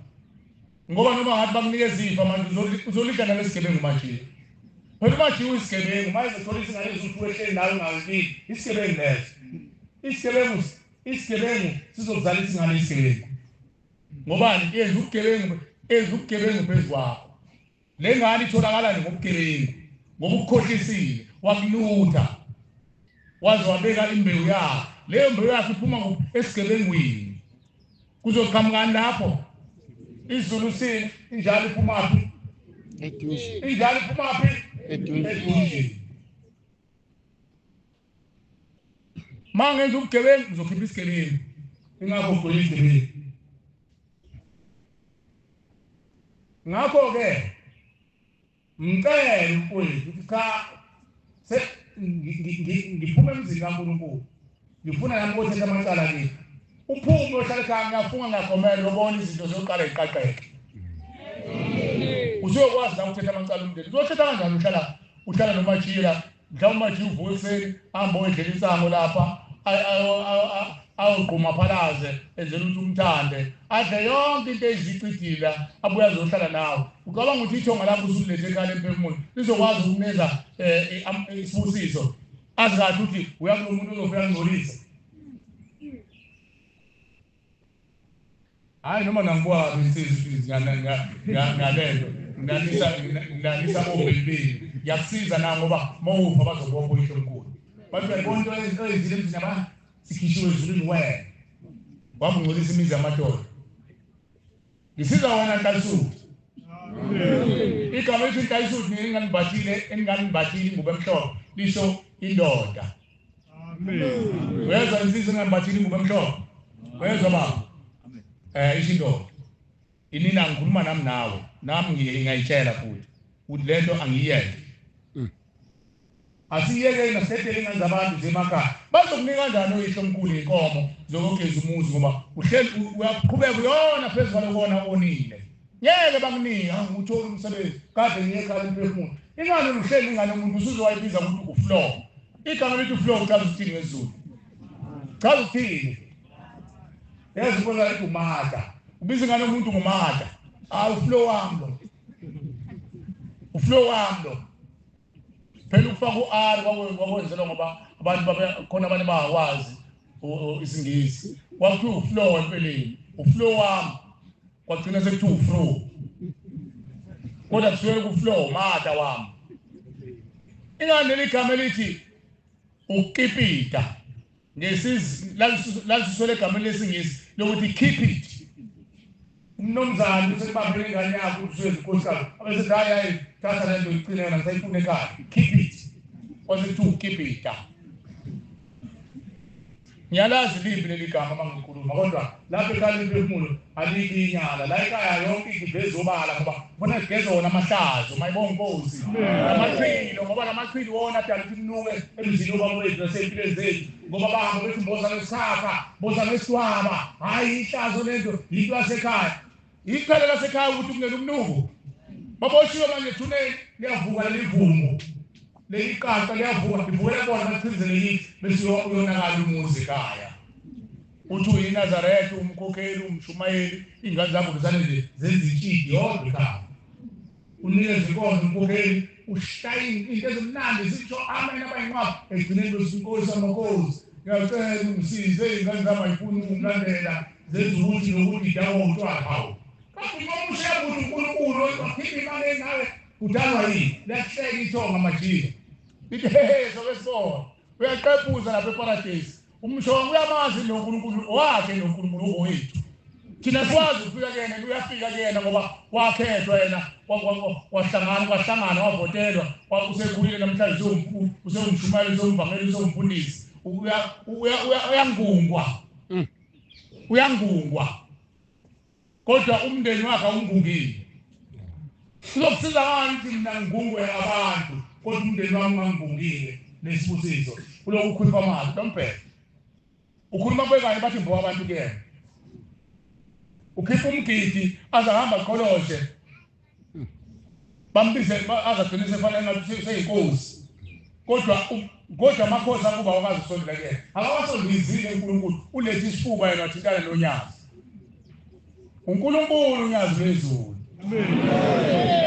Ngoba noma ngathi bakunikeza ifa manje uzolidla nalesigebengu manje. Phela manje uyisigebengu manje uthola isingane ezithi wehleli nawe ngawubili isigebengu leso. Isigebengu isigebengu sizokuzala isingane isigebengu. Ngobani yenza ugebengu enza ugebengu phezu kwakho. Le ngane itholakala nje ngobugebengu ngoba ukukhohlisile wakulutha waze wabeka imbewu yakhe leyo mbewu yakhe iphuma esigebengwini kuzoqhamukani lapho izulu sini injalo iphumaphi injalo iphumaphi edunjini uma ngenza ubugebengu ngizokhipha isigebengu ingakho ngigwele izigebengu ngakho-ke ngicele mfowethu ukuthi cha ngiphume emzini kankulunkulu ngifuna nami kothetha amacala kimi uphume ohlale khaya ngiyafunga ngiyagomela lobona izinto zokuqala ziqaqeke usuyokwazi la ukuthetha amacala umndeni uzothetha kanjani uhlala uhlala nomatshila mhlawumbe manje uvuka ekuseni ahambe oyendlela insango lapha awugquma phalaze enzela ukuthi umthande adle yonke into eyizicidila abuye azohlala nawe ucabanga ukuthi ithonga lakho usulethe ekhaya lempefumulo lizokwazi ukuneza um eh, isibusiso azi kahle ukuthi uyakulo muntu ozofika ngcolisa Hayi noma nangibwaba insizwa ngalento nganisa nganisa obelibini yakusiza na ngoba mawupha bazobonga uyihlo mkhulu bathi uyabona into oyenzile emzini yaba sikhishiwe ezulwini wena wabungcolisa imizi yamadoda Ngisizwa wona Nkalisuthi. Igama elithi Nkalisuthi nginganibhathile enginganibhathile ingubo emhlophe lisho indoda. Amen. Uyezwa insizwa enginganibhathile ingubo emhlophe. Uyezwa baba. Amen. Eh isho indoda. Inina ngikhuluma nami nawe. Nami ngiyayitshela futhi. Uthi lento angiyenze. Asiyekeni asidedeleni ngane zabantu zemakhaya. Bazokunika kanjani oyihlo omkhulu inkomo zokogeza umuzi ngoba uhleli uyaqhubeka uyona phezu kwalokona onile. Ngeke bakunika uthola umsebenzi kade ngiyekhala imphefumulo. Ingane uhleli ingane umuntu usuzowayibiza ukuthi uflow. Igama lithi uflow uchaza ukuthini ngesiZulu? Chaza ukuthini? Yazi ubona lithi umada. Ubiza ingane umuntu ngumada. Awu uflow wami lo. Uflow wami lo. Phela ukufaka u-R kwakwenzelwa ngoba abantu babekhona abantu bangakwazi isiNgisi. Kwakuthiwa u-flow empeleni, u-flow wami kwagcina sekuthiwa u-flow. Kodwa kusuke ku-flow mata wami. Ingani leli gama elithi ukukipita lalisuswele egameni lesingisi lokuthi keep it umnumzane usebambele ingane yakho umswezi nkosikazi abesethi hayi hayi thatha le nto iqine yona sayifuna ekhaya keep it wasekuthiwa ukeep it ah. ngiyalazi limbi leli gama uma ngikhuluma kodwa lapho ekhaya lemphefumulo Alikho inyala la ekhaya yonke into iveza obala ngoba khona sigeza wona amahlazo mayibonga inkosi amachilo ngoba lamachilo wona adala ukuthi kunuke emzini obaba wethu nasempilweni zethu ngoba bahamba bethi mboza ngesisakha mboza ngesitwaba hhayi ihlazo lento yinto yasekhaya iqhele lasekhaya ukuthi kungena umnuko baboshiwe manje thuneni liyavuka lelivumbo leli qaqa liyavuka livukela bona bachizelelithi bese uyonakala umuzi ekhaya Uthi uyinazaretha, umkhokheli, umshumayeli, iy'ngane zakho kusane nje zenza intshidi yodwa ekhaya. Unikeza inkonzo umkhokheli, ushaya into ezimnandi zisho amen abayinqwaba egcineni lwesinkosi amakhozi. Ngiyacela ungisize iy'ngane zami ayifuni ukungilandela zenza ukuthi nokuthi idakwa utshwala hawu. Kanti uma ushaya ukuthi uNkulunkulu wakhipha imali engawe kudalwa yini? Liyahleka ithonga majika. Lithi hehe soke sibona. Uyaqephuza lapha eparadesi. Umusho wami uyamazi lo Nkulunkulu owakhe lo Nkulunkulu owethu. Thina siwazi ukufika kuyena uyafika kuyena ngoba wakhethwa yena wahlangana kwahlangana wavotelwa usekhulile namhlanje sewumkhulu usewumshumayeli usewumvangeli usewumfundisi uyangungwa mm. uyangungwa kodwa umndeni wakhe awungungile sizokusiza ngani ukuthi mina ngingungwe abantu kodwa umndeni wami ungangungile nesibusiso kuloku ukhuluma amazwi lombhele ukhuluma kubekanye bathi mbowa abantu kuyena ukhipha umgidi aze ahamba qholoshe bambize azagcine sefana ngathi seyinkosi kodwa kodwa amakhosi akuba wakazi usondela kuyena akawasondizile uNkulunkulu ulethe isifuba yena wathintana nonyazi uNkulunkulu unyazi lwezulu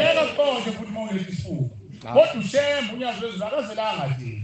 eka konke futhi mawulethe isifuba kodwa ushembe unyazi lwezulu akazelanga nje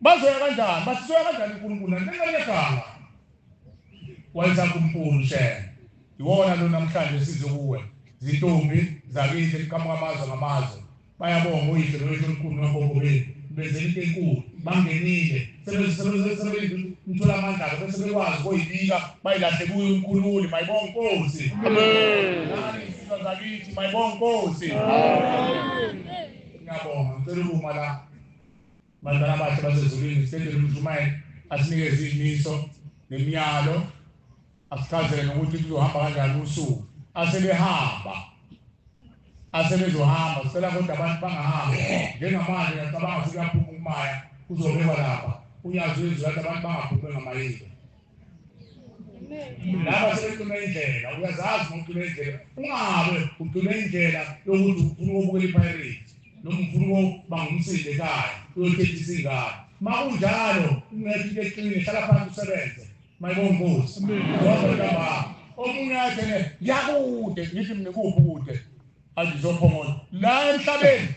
bazoya kanjani bathi soya kanjani uNkulunkulu naningayekanga wenza kuMkulu shela iwona lo namhlanje size kuwe zintombi zakithi liqhamuka amazwe ngamazwe bayabonga uyise lowethu omkhulu nabongo benu benzela into enkulu bangenile sebethola amandla-ke bese bekwazi koyibika bayilahle kuyo umkhululi mayibonga inkosi naniyisizwa zakithi mayibonga inkosi ngiyabonga ngicela ukuma la Bazalwana abahle basezulwini, sicela uMshumayeli asinikeze izimiso nemiyalo, asichazele nokuthi kuzohamba kanjani usuku. Asebehamba, asebezohamba, sicela kodwa abantu bangahambi njengamanje, ngiyacabanga ukuthi kuyaphuma ukumaya kuzobekwa lapha unyazi wezwi lathi abantu bangaphumi bengamayile. laba sebecima indlela uyazazi uma ucima indlela ungabe ucima indlela yokuthi ufuna ukubukela ipirates noma ufuna ukuba ngumsinde ekhaya uyothethisa ingane ma kunjalo ungeke into eqine hlala phansi usebenze mayibongozi omunye athene ngiyakude ngithi mina kuwubukude azizophongola la emhlabeni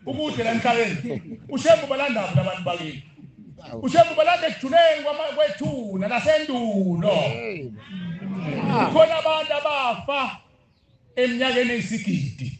ukude la emhlabeni ushembu balandaphi labantu bakini ushembu balanda ekujuleni kwethuna lasendulo kukhona abantu abafa eminyakeni eyisigidi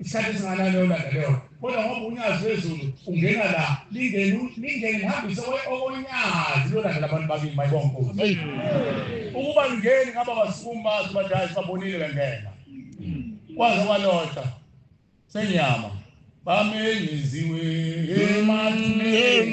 isikhathi esinganalona leyo kodwa ngoba unyazi lwezulu ungena la lingeni lingeni lihambise okonyazi lolanda labantu bakini mayibonkulu ukuba lingeni ngaba basukumi bazi bathi hayi sibabonile bengena kwaze kwalota senyama bamenyeziwe emathuneni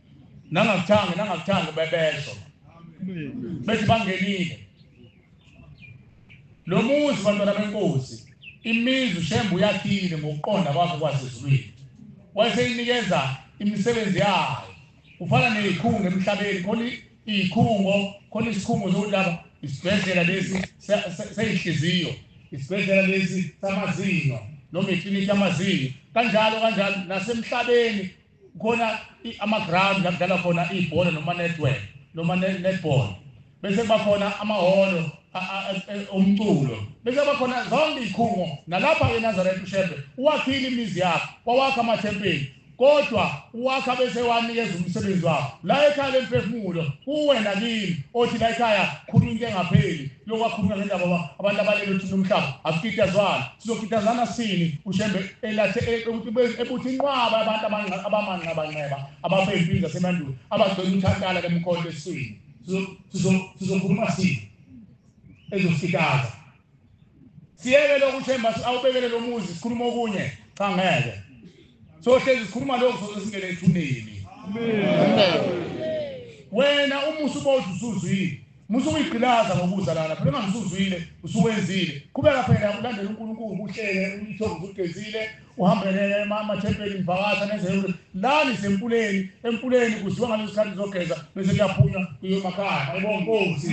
nangakuthanga nangakuthanga bebesho bethi bangenile lo muzi bantwana benkosi imizi ushembe uyathile ngokuqonda kwakhe kwasezulwini wayeseyinikeza imisebenzi yayo ufana neyikhungo emhlabeni khona iyikhungo khona isikhungo sokuthi laba isibhedlela lesi seyinhliziyo isibhedlela lesi samazinyo noma iklinikhi yamazinyo kanjalo kanjalo nasemhlabeni khona ama-ground la kudlalwa khona ibhola noma network noma netball bese kuba khona amahholo umculo bese kuba khona zonke iy'khungo nalapha enazaretha ushembe uwakhile imizi yakho wawakha amathempeli kodwa uwakha bese wanikeza umsebenzi wakho la ekhaya lemphefumulo kuwena kimi othi la ekhaya khuluma into engapheli lokwakhuluma ngendaba ba abantu abalele uthini umhlaba asikitazwana sizokitazana sini ushembe elathe e, ebuthi inqwaba abantu abamanqabanqeba ababempini zasemandulo abagcwele umthankala kemkhonto esini sizokhuluma sini ezosikitaza siyeke lokhu ushemba awubekele lo muzi sikhuluma okunye cha ngeke sohlezi sikhuluma lokhu soze singene ethuneni wena umusa uba uthi usuzwile Musa ukuyigqilaza ngokuza lana phela mangisuzwile usuwenzile qhubeka phela ulandela uNkulunkulu uhlele umthovu ugezile uhambele amathempeli ngivakasha nezehule lani sempuleni empuleni kuziwa ngaleso sikhathi zogeza bese kuyaphunywa kuyomakhaya ayibonkosi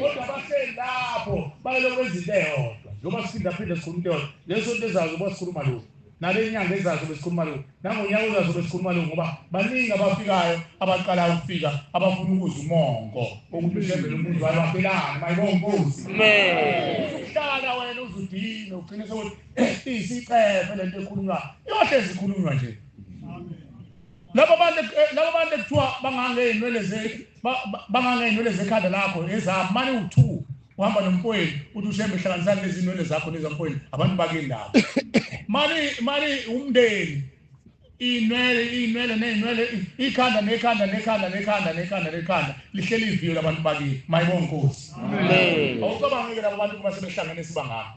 kodwa bahleli lapho bayelokwenza into eyodwa njengoba siphindaphinda sikhuluma into eyodwa leso nto ezayo zoba sikhuluma lokhu nale nyanga ezazo besikhuluma lokhu nangonyaka ozazo besikhuluma lokhu ngoba baningi abafikayo abaqala ukufika abafuna ukuza umongo ukuthi ushembele umuzi wayo baphelani mayibonkosi uhlala wena uzudine ugcine sokuthi eh, isicefe lento ekhulunywa yohle zikhulunywa nje labo bantu eh, labo bantu ekuthiwa bangangeyinwele zethu bangangeynwele zekhanda lakho ezami mane uthuku uhamba nomfowenu uthi ushembe hlanganisani lezi nwele zakho nezamfowenu abantu bakendaba mani mani umndeni iy'nwele iy'nwele ney'nwele ikhanda nekhanda nekhanda nekhanda nekhanda nekhanda lihleli iviyo labantu bakini mayibonga nkosi awucabangeke labo bantu kuba sebehlangene sibangako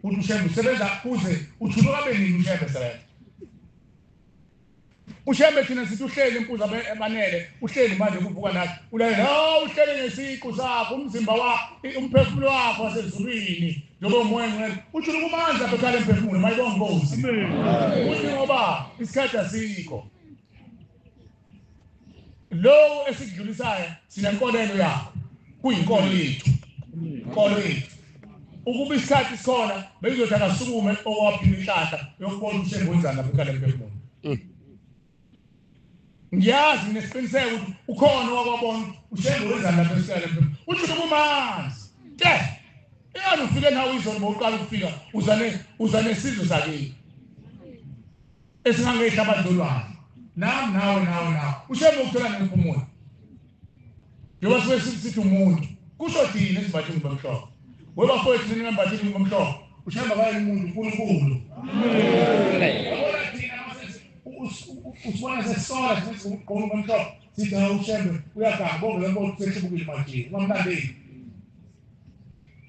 uthi ushembe usebenza kuze uthuluka beningi ushembe sebenza ushembe thina sithi uhleli impuza ebanele uhleli manje kuvuka nathi ulalela hawu uhleli ngesiqu sakho umzimba wakho umphefumulo wakho wasezulwini njengoba umoya ngcwele uthi ukumandla phethale emphefumulo mayibonga inkosi uthi ngoba isikhathi asikho lowo esikudlulisayo sinenkolelo yakho kuyinkolo yethu inkolo yethu ukuba isikhathi sona beyizothi akasukume owaphila inhlahla yokubona ukuthi engwenzani lapho kale mpefumulo mm. ngiyazi nesiqiniseko ukuthi ukhona wakwabona usengwenzani lapho esikale mpefumulo uthi ukumazi te eyani ufike nawe izolo bowuqala ukufika uzane uzane sizwe sakini esingangehla abadlolwane nami nawe nawe nawe ushembe ukuthola nemiphumula njengoba sibe sithi umuntu kusho thina esibathe ingubo emhlophe webafowethu nina ngambathe ingubo emhlophe ushembe akaye umuntu unkulunkulu usibona sesola sithi ugqoka ingubo emhlophe sithi ushembe uyaganga bonke labo sesibukile manje ungamlandeli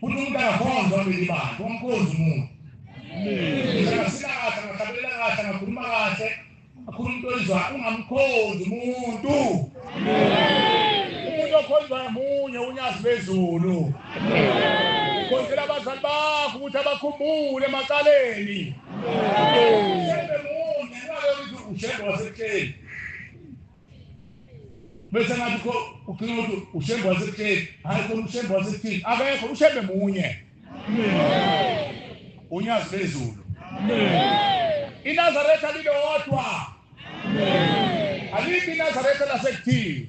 Kuthi umntakakhonza belibani kwamkhozi umuntu. Ngisakasina kahle ngahlabelela kahle ngakhuluma kahle akhuluma into oyizwa ungamkhonzi umuntu. Umuntu okhonzwa munye unyazi bezulu. Khonzela abazali bakho ukuthi abakhumbule emacaleni. Ushembe munye, ungabe uthi ushembe wasebuhleni. bese ngathi kho ugcina ukuthi ushembe wasekutheni hhayi khona ushembe wasekuthini akekho ushembe munye unyazi bezulu inazaretha lilodwa alibi inazaretha lasekuthini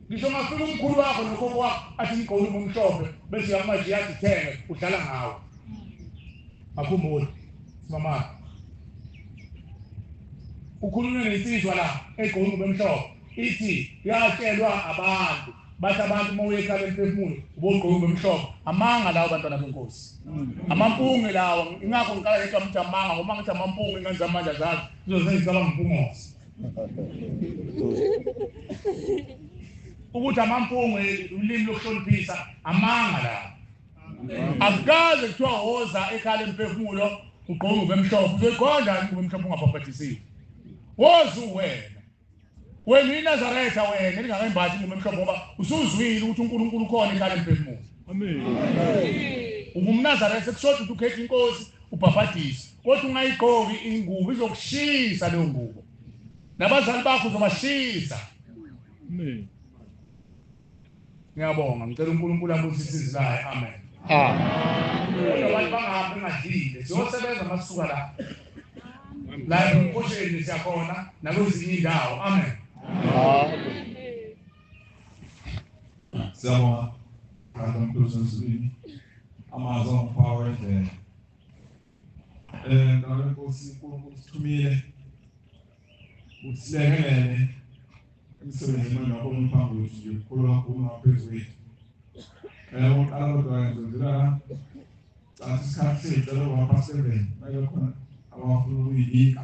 Ngisho ungafika umkhulu wakho nogogo wakho athi ngigqoke ubumhlophe bese uyamanje uyazithenge udlala ngawo. Akhumbule mama. Ukhulunywe nensizwa la egqoke ubumhlophe ithi yatshelwa abantu bathi abantu uma uyekhala emphefumulo ubogqoke ubumhlophe amanga lawo bantwana benkosi amampunge lawo ingakho ngikala ngithi amamanga ngoba ngithi amampunge ingane zamanje azazi zizozenzisa abampungosi ukuthi amampungu ulimi lokuhloniphisa amanga la akukaze kuthiwa woza ekhala emphefumulo ugqoke ube mhlophe uzoyiqonda yini ube mhlophe ungabhabhadisile woza uwena wena inazaretha wena elingakayimbathi ingubo emhlophe ngoba usuzwile ukuthi unkulunkulu ukhona ekhala emphefumulo ungumnazaretha kushoda ukuthi ukhetha inkosi ubhabhadise kodwa ungayigqoki ingubo izokushisa leyo ngubo nabazali bakho uzobashisa amen ngiyabonga ngicela uNkulunkulu abusise izilayo amen amen abantu bangahambi ngadlile siyosebenza masuka la la emkhosheni siyakhona nakwezinye indawo amen siyabonga brother mkhulu sesibini amazwi angiphawa endlela Eh ngalo Nkosi uNkulunkulu sithumile usilekelele emsebenzini wena omphambi wethu yokukhulu kakhulu ngaphezu kwethu. Eh uqala kodwa nje ngila cathi isikhathi sethu lokho ngapha 7 bayokhona abafuna ukuyibika